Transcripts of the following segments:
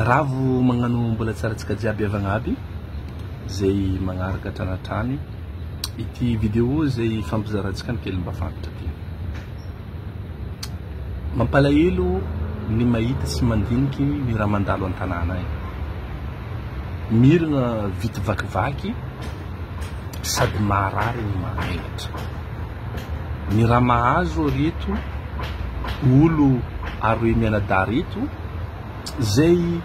Ravo magnano mbola tsara tsika jiaby avagna aby zay magnaraka hatrany hatrany ity video zay ifampizarantsika ny kely mba fantatra ty mampalahelo ny mahita sy mandiniky ny raha mandalo an-tanàna any mirina vity vakivaky sady maharary ny mahaelatra ny raha mahazo reto olo aroe mianadahy reto izay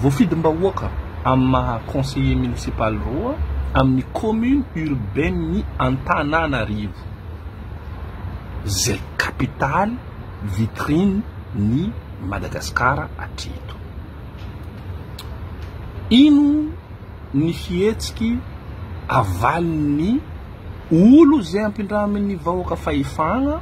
voafidim-bahoaka amin'ny maha conseiller municipal roa amin'ny commune urbaine ny Antananarivo izay capitale vitrine ny Madagascar hatreto. Ino ny fihetsiky avalin'ny olo izay ampindramin'ny vahoaka fahefana?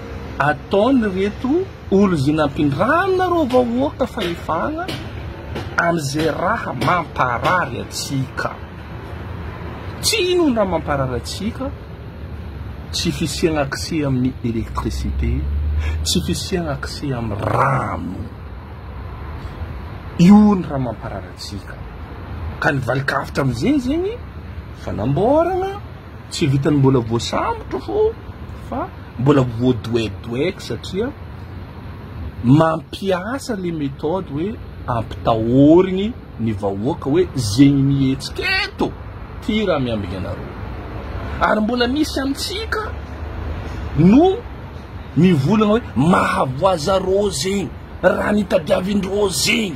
ataon ireto olon izay nampindrana ireo vahoaka fahefana amin'izay raha mamparary antsika. Tsy inona ny raha mamparary antsika, tsy fisiana accès amin'ny électricité, tsy fisiana accès amin'ny rano. Io ny raha mamparary antsika. Ka ny valikavitra amin'izay zegny fanamboarana tsy vitan'ny mbola voasambotra fô fa Mbola voadoedoeiko satria mampiasa le méthode hoe ampitahorigny ny vahoaka hoe zegny mihetsika eto ty raha miambigny anareo. Ary mbola misy amintsika no mivolagna hoe mahavoazareo zegny, raha nitadiavindreo zegny.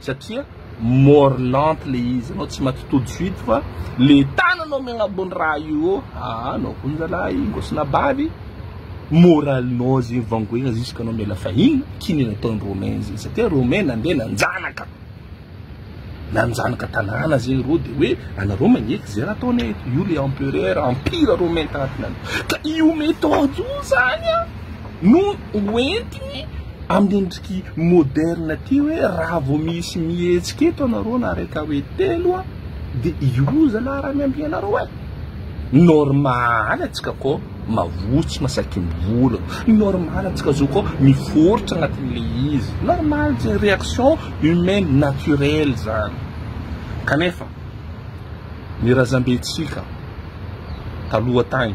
satria mort lente le izy anao tsy maty tout de suite fa le tananao mianabony raha io ô aa anao koa zalahy ngosina bavy moralinao zegny vangoegna jusque anao miala fahiny kinin'ny ataon'i romain zegny satria romain nandeha nanjanaka nanjanaka tanàna zegny rô de hoe anareo magneky zay raha ataonay eto io le empereur empire romain taty nany ka io méthode io zany a no hoentiny amin'ny endriky moderne ty hoe raha vao misy mihetsika eto anareo na raika hoe telo a de io zala raha miambia anareo e normal atsika ko mavotsy masaky ny vola normal atsika zo ko miforitra agnatin'le izy normal zay réaction humaine naturelle zany kanefa ny razambentsika taloha tagny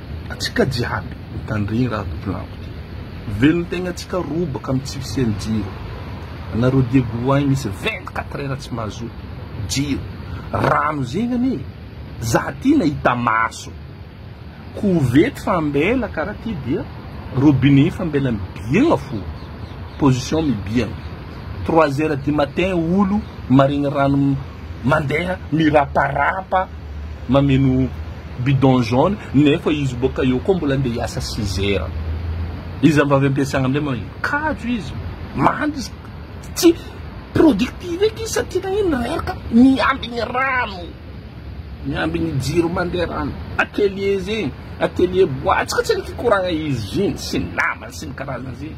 Antsika jiaby mitandregny raha tokolampy ty. Velogno tegna antsika robaka am tsy fisiany jiro. Anareo diago agny misy vingt quatre heures tsy mahazo jiro. Rano zegny ane za ty nahita maso. Kovety fa ambela kara ty dia robinet efa ambela mibiagna fo. Position mibiagna. Trois heures du matin olo maregny rano. mandeha miraparapa mameno bidon jaune nefa izy boaka eo koa mbola andeha hiasa six heures izy am vavy ampiasagna amizay magnino kajo izy mandry izy tsy productive eky izy satria nagnino reraka miambigny rano miambigny jiro mandeha rano atelier zegny atelier bois tsy ka tsy nikikoragna izy zigny sy ny namany sy ny karazany zegny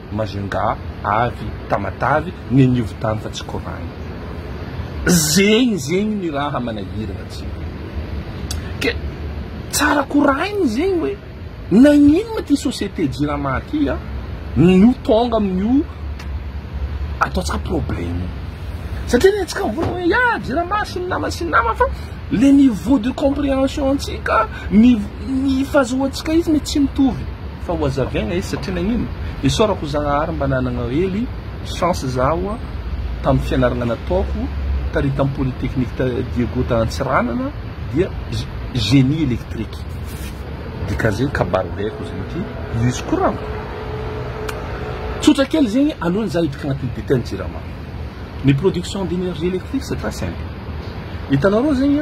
Majunga avy Tamatave ny an'io tany fa tsy Kor'any. Zegny zegny ny raha manahiragna antsika. Ke tsara koraigny zegny hoe nagnino ma ty société jirama ty a no tonga amin'io ataontsika problème io. Satria ny antsika mivolagna hoe ya jirama sy ny nama sy ny nama fa le niveau de comprehension antsika. Ny ny fahazahoantsika izy ne tsy mitovy fa ho hazavaina izy satria nagnino? Isaorako Zagnahary mba nanagna hely chance zaho tamin'ny fianaragna nataoko tary tamin'ny polytechnique ta Diego ta Antsiranana dia génie électrique. Dikazay kabary baiko zay ity izy ko ra tsotra kely zegny alohan'ny za hiditra agnatin'ny detail ny jirama. Ny production d'énergie électrique c'est très simple. Hitanareo zegny.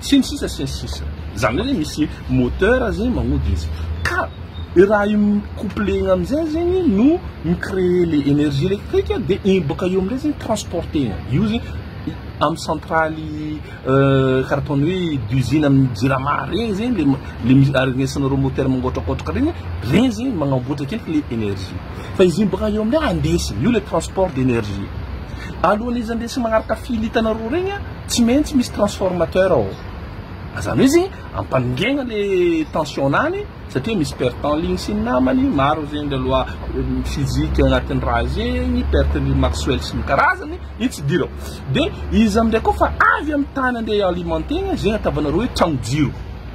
sy ny sisa sy ny sisa zany hoe misy moteur zegny magnody izy ka le raha io couplé igny amizay zegny no mi créer le énergie électrique de igny boka eo amizay zegny transporter-na io zegny amy centraly euh, karaha ataony hoe d'usine amy jirama regny zegny le le misy aregnesanareo moteur mangotrakotraka regny regny zegny magnamboatra akeliky le énergie fa izy igny boka eo amizay andesiny io le transport d'énergie alohan'izy andesiny magnaraka fil hitanareo regny a Tsy maintsy misy transformateur ao. Azany hoe izy ampanongena le tension nany satria misy perte en ligne sy ny namany, maro zegny le loi physique agnatin'ny raha zegny, perte ligne Maxwell sy ny karazany, io tsy idirako. De izy amzay koa fa avy amin'ny tany ande i-alimentegna, zegny ataovanareo hoe tragno jiro.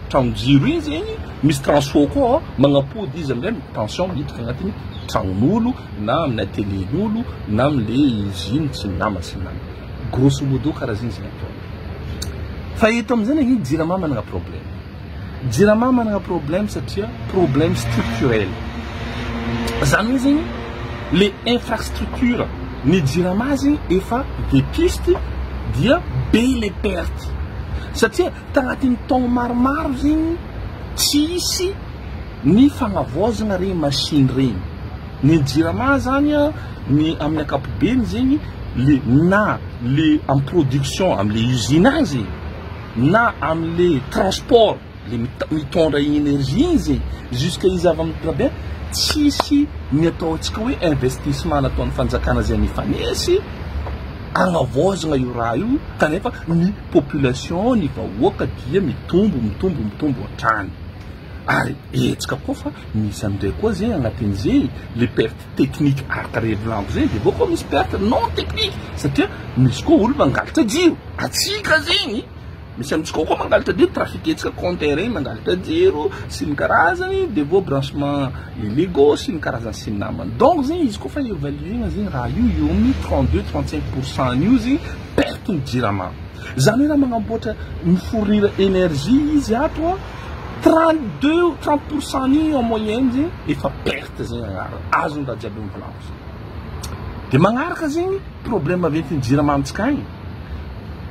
Tragno jiro igny zegny misy transfo koa ao, magnapody izy amzay ny tension miditra agnatin'ny tragnon'olo, na amin'ny atelier lolo na amle usine tsy nama sy nama grosso modo karazigny zay ataony fa eto amizay nagnino jirama managna problème jirama managna problème satria problème structurel zany hoe zegny le infrastructure ny jirama zegny efa vétuste dia be le perte satria tagnatin'ny taogno maromaro zegny tsisy Ny fagnavaozagna regny machine regny, ny jirama zany a, ny amin'ny ankapobeny zegny le na le am production amle usine agny zegny na amle transport le mit- mitondra igny energie igny zegny jusque izy avy am drabin tsisy ny ataontsika hoe investissement nataon'ny fanjakana zay nifanesy agnavaozagna io raha io kanefa ny population ny vahoaka dia mitombo mitombo mitombo hatrany. ary hetsika koa fa misy amindray koa zay agnatin'izay le perte technique arc revelambo zay de bôko misy perte non technique satria misy koa olo mangalatra jiro atsika zegny misy amitsika koa mangalatra jiro trafic hetsika compteur regny mangalatra jiro sy ny karazany de vao branchement illégo sy ny karazany sy ny namany donc zegny izy koa fa evaluena zegny raha io eo amin'ny trente deux trente cinq pour cent an'io zegny perte ny jirama zany hoe raha magnamboatra mi fournir énergie izy ato a Trente deux ou trente pour cent ny en moyenne zegny efa perte zegny agnarany, azony raha jiaby mivolanko zegny. Dia magnaraka zegny problème maventin'ny jiramantsika agny,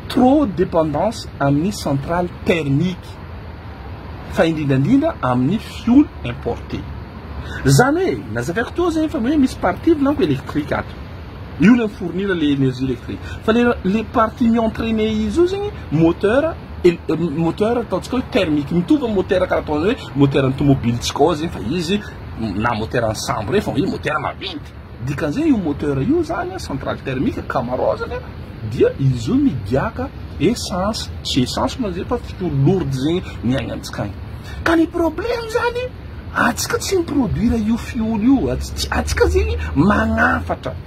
trop dépendance amin'ny centrale thermique fa indrindrandrindra amin'ny fioul importé. Zany hoe nazavaiko teo zegny fa hoe misy partie volanko électrique ato. Io le mi-fournir le énergie électrique. Fa le le partie mi-entraîner izy io zegny moteur Moteur ataontsika hoe thermique mitovy amin'ny motera karaha ataon'ny hoe moteran'ny tomobilintsika ao zegny fa izy na moteran'ny sambo regny fa izy motera maventy dikan'izay io motera io zany a centrale thermique camarao zany a dia izy io migiaka essence tsy essence moa zay fa fitory lourde zegny ny aigny amintsika agny ka ny problème zany atsika tsy miproduire io fioly io atsika zegny magnafatra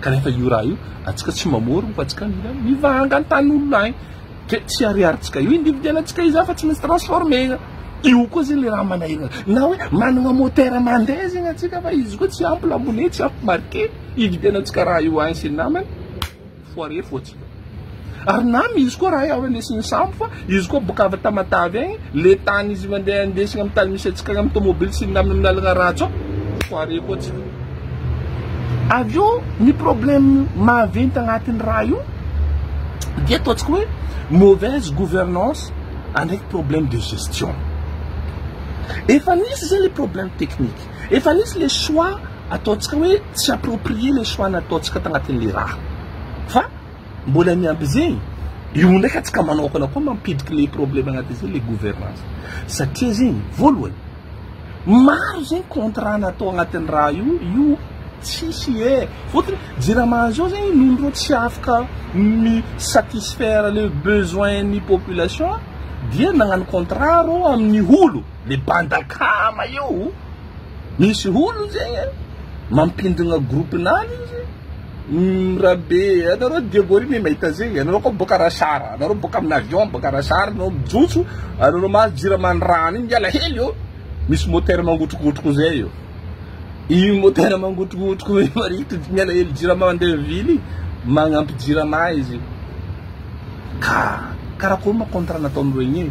kanefa io raha io atsika tsy mamorona fa atsika mila mivanga ny tany olona any ke tsy ariaritsika io individuel atsika izany fa tsy misy transformena io koa zegny le raha manahirana na hoe managna motera mandeha zegny atsika fa izy koa tsy ampy lamone tsy ampy marke ividianatsika raha io any sy ny namany foire fotsiny Ary na misy koa raha efa nisy nisambo fa izy koa boka avy Tamatave agny, le tany izy mandeha andesina amin'ny tany misy antsika agny amin'ny tomobily sy milamina amin'ny lalagna ratsy ao, foire koa tsy fo. Avy eo ny problème maventy agnatin'ny raha io dia ataontsika hoe mauvaise gouvernance ndraiky problème de gestion. Efa nisy zay le problème technique. Efa nisy le choix ataontsika hoe tsy approprier le choix nataontsika tagnatin'le raha. Fa mbola ny amby zegny, io ndraiky antsika manokana koa mampidriky le problème agnatin'izay le gouvernance. Satria zegny, voalohany, maro zegny contrat natao agnatin'ny raha io, io tsisy e. Fôtony Jirama zao zegny noho ireo tsy afaka mi satisfaire le besoin-n'ny population dia nagnano contrat reo amin'ny olo. Le banda kama io misy olona zegny e mampindogna groupe nany izy mirabe anareo diabory ne mahita zegny anareo koa boka rasara anareo boka amina avion boka rasara anao mijotso anareo mahazo jirama ny rano igny miala hely ô misy moteur mangotrokotroko zay io igny moteur mangotrokotroko igny marikitry tsy miala hely jirama ande vily magnampy jirama izy ka karakory ma contrat nataon'ireo igny e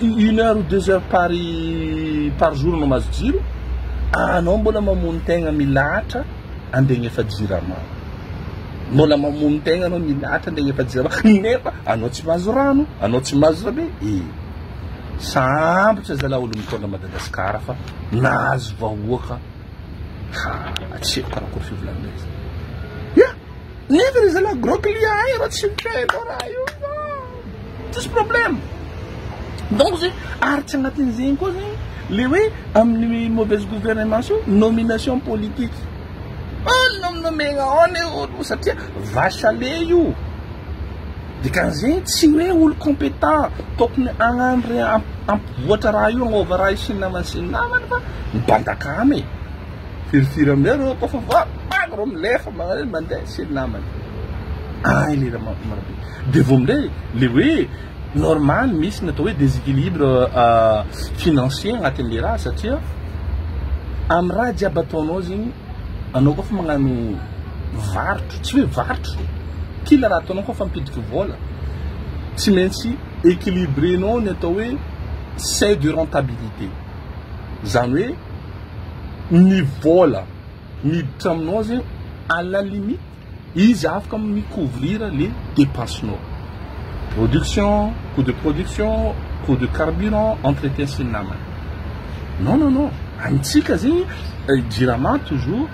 Une heure ou deux heures par par jour no mahazo jiro, anao mbola mamono tegna milahatra andeha agnefa jirama, mbola mamono tegna anao milahatra andeha agnefa jirama nefa anao tsy mahazo rano, anao tsy mahazo zavay e! Sambotra zalah olo mitondra Madagascar fa nahazo vahoaka ha tsy haiko karakory fivolagnanay zany. Ya! Nefa re zalah gros client hay reo tsy mipay anao raha io. tsisy problème donc zay ary tsy agnatin'izegny koa zegny le hoe amin'ny mauvaise gouvernance io nomination politique olo nominomegna ao le olo satria vache à lait io dikan'izegny tsy hoe olo compétent tokony agnano re ampivoatra raha io agnôva raha io sy ny namany sy ny namany fa mibantaka amy e firifiry amizay reo kôfa voabango reo milefa magnan'io mandeha sy ny namany ay le raha marobe Dia vao minday le hoe normal misy ny atao hoe desequilibre financier agnatin'le raha satria amin'ny raha jiaby ataonao zegny anao koa fa magnano varotro tsy hoe varotro kila raha ataonao koa fa ampidiko vola tsy maintsy equilibrenao ny atao hoe seuil de rentabilité zany hoe ny vola miditra aminao zegny à la limite Izy afaka mi couvrir le depense nao. Production, coût de production, coût de carburant, entretien sy ny namany. Non non non, amintsika zegny jirama toujours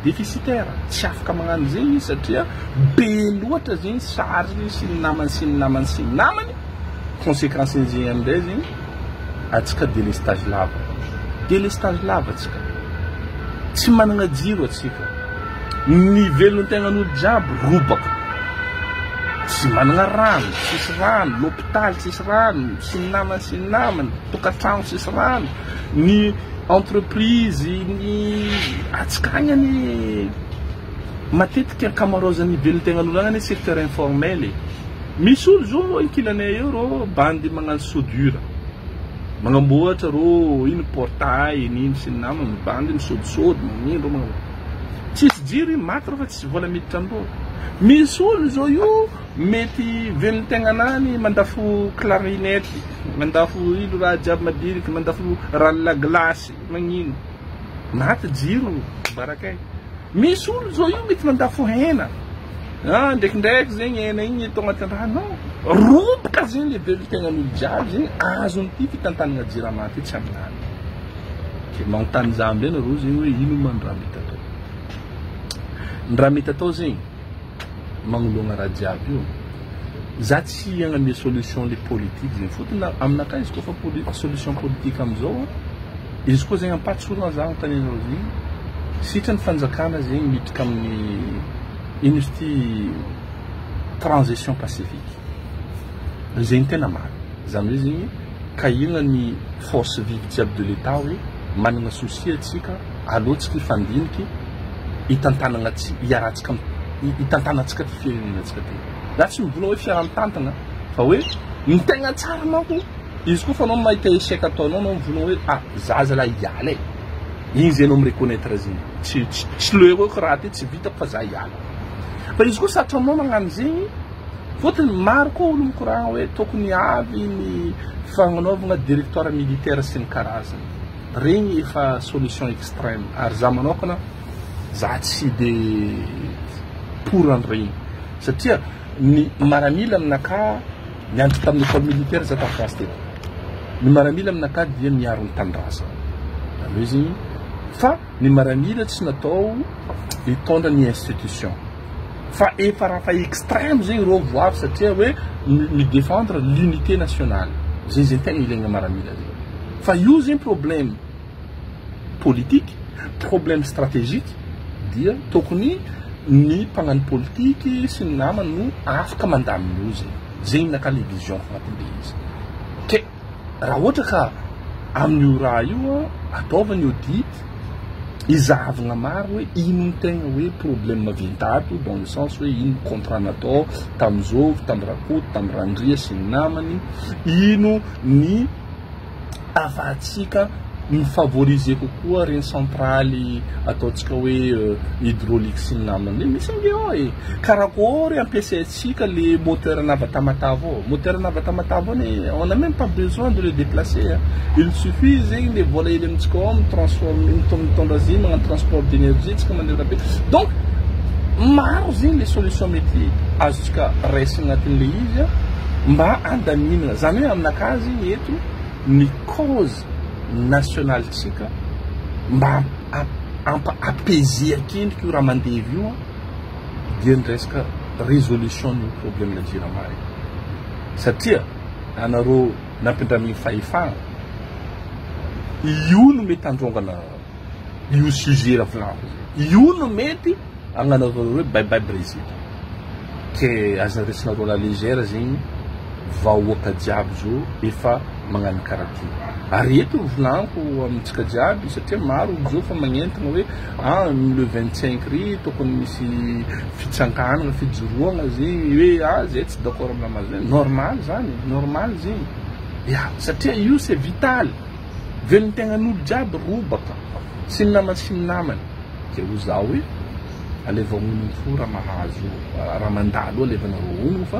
déficitaire, tsy afaka magnano zegny izy satria be loatra zegny charge sy ny namany sy ny namany sy ny namany, consequence nizegny amindray zegny atsika délestage lava, délestage lava atsika, tsy managna jiro atsika. Ny velontegnan'olo jiaby robaka. Tsy managna rano, tsisy rano, lopitaly tsisy rano, sy ny namany sy ny namany, tokantragno tsisy rano, ny entreprise ny atsikagna ny matetika ankamaroazan'ny velontegnan'olo agny anie secteur informel e. Misy olo zao reo ankilanay eo reo bandy magnano soudure, magnamboatra reo ino portail n'ino sy ny namany, bandy misodisody magnino reo magnano. Tsisy jiro iny maty refa tsy vola miditra am boho. Misy olo zao io mety velon tegnana any mandafo clarinette, mandafo ilo raha jiaby madiniky, mandafo rano la glace magnino. Maty jiro barakay. Misy olo zao io mety mandafo hena ah ndrekindreky zegny hena igny atao agnaty rano ao roboka zegny le velon tegnanolo jiaby zegny azon ty fitantanagna jirama ty tsy aminany. dia manontany za amizay nareo zegny hoe ino ma ny raha mety atao? Ny raha mety atao zegny magnoloagna raha jiaby io za tsy hagname solution le politique zegny fotony na aminakahy izy koa fa poli- solution politique amizao izy koa zegny ampahatsorana za agnontany anareo zegny sitry ny fanjakana zegny miditra amin'ny ino izy ty transition pacifique zegny tena marina. Izany hoe zegny ka inona ny force vive jiaby de l'Etat hoe managna souci atsika alohatsika hifandiniky hitantanagna tsy hiarahantsika hitantanantsika ty firenenantsika ty. Za tsy mivolagna hoe fiaraha mitantagna fa hoe ny tegna tsara manko izy koa fa anao mahita échec ataonao anao mivolagna hoe ah za zalah hiala e igny zay anao mi reconnaitre zegny tsy tsy tsy le hoe ko raha ty tsy vitako fa za hiala fa izy koa satry anao magnano zegny Fotony maro koa olo mikoragna hoe tokony avy ny fagnanaovagna directoire militaire sy ny karazany. Regny efa solution extreme ary za manokana za tsy de pour an'iregny satria ny maramila amin'naka niandry tamin'ny école militaire za tamin'ny classe teto. Ny maramila amin'naka dia miaro ny tanindrazagna. Zany hoe zegny fa ny maramila tsy natao hitondra ny institution. fa efa raha fa extreme zegny reo vo avy satria hoe mi defendre l'unité nationale zay zay tegna ilaigna maramila zay fa io zegny problème politique problème stratégique dia tokony ny mpagnano politique sy ny namany no afaka mandamina io zegny zegny ny anakah le vision ko agnatin'le izy ke raha ohatra ka amin'io raha io ataovy ny audit izahavina maro hoe ino ny tegna hoe problème vintato dans le sens hoe ino contrat natao tamin'ny zovy tamin'ny rakoto tamin'ny randria sy ny namany ino ny afahantsika ny favoriser kokoa reny centraly ataontsika hoe euh, hydraulique sy ny namany misy ange ao e karakory ampiasaintsika Si ka le moteur nava tamatave ao, moteur nava tamatave ao anie on a meme pas besoin de le deplacer a, il suffit zegny le vola hely amintsika ao mi transforme mitondra azy magnano transport d'energie tsika manerana be donc maro zegny le solution mety azontsika raisina agnatin'le izy a mba andaminana, zany hoe aminakà zegny eto ny cause nationale tsika mba ampa apaiser akendriky io raha mandevy io a. dia ny resaka résolution ny problème ny jirama e. Satria anareo nampindramin'ny fahefana io no mety handrongana io sujet avy lava io. Io no mety agnanaovana hoe bye bye Brezila. Ke aza resinareo la légère zegny vahoaka jiaby zao efa magnano karaty. Ary eto ny volanko amintsika jiaby satria maro zao fa magnentana hoe An le vingt cinq ry tokony misy fitsanganana fijoroana zy hoe ah zay tsy d'accord amina mazy hoe normal zany e normal zy ya satria io c'est vital velontegnan'olo jiaby robaka sy ny namany sy ny namany zay ho za hoe alevao honogno fo raha mahazo raha mandalo alevanareo honogno fa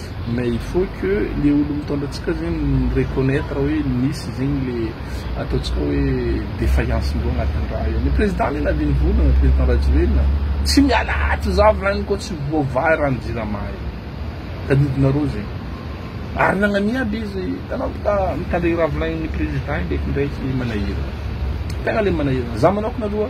Mais il faut que le olo mitondra antsika zegny mi reconnaitre hoe misy zegny le ataontsika hoe defaillance ndreo agnatin'ny raha io. Ny président anie navy nivolagna, président Rajoelina, tsy miala ato za volagniny koa tsy voavaha rano jirama io. Tadidinareo zegny. Ary nagnamia aby izy, hitanao fa mitandregny raha volagniny président ndraikindraiky manahirana. Tegna le manahirana. Za manokana aloha.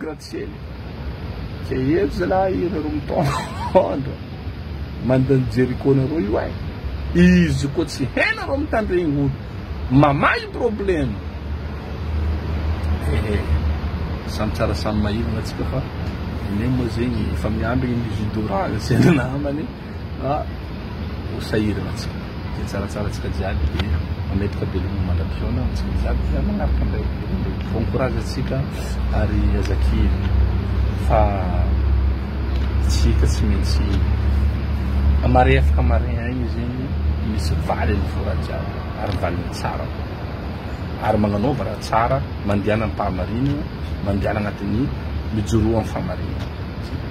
Gratsiela, zay hery zalahy ianareo mitondra mandany Jericho nareo io ay, izy koa tsy hainareo mitandregny olo mamahy probleme ee, samy tsara samy mahirana tsika fa nenay moa zegny efa miambigny ny judo raha zay namany. ka ho sahirana tsika izay tsaratsarantsika jiaby dia mametraka veloma mandra-pihaona ho antsika jiaby dia manaraka an'ilay olombelona dia bon courage antsika ary aza kivy fa tsika tsy maintsy marefaka marin aina izy iny misy valy ny voa raha jiaby ary valiny tsara ary magnanaova raha tsara mandehana am-pahamarina mandehana agnatin'ny mijoroa am-fahamarinana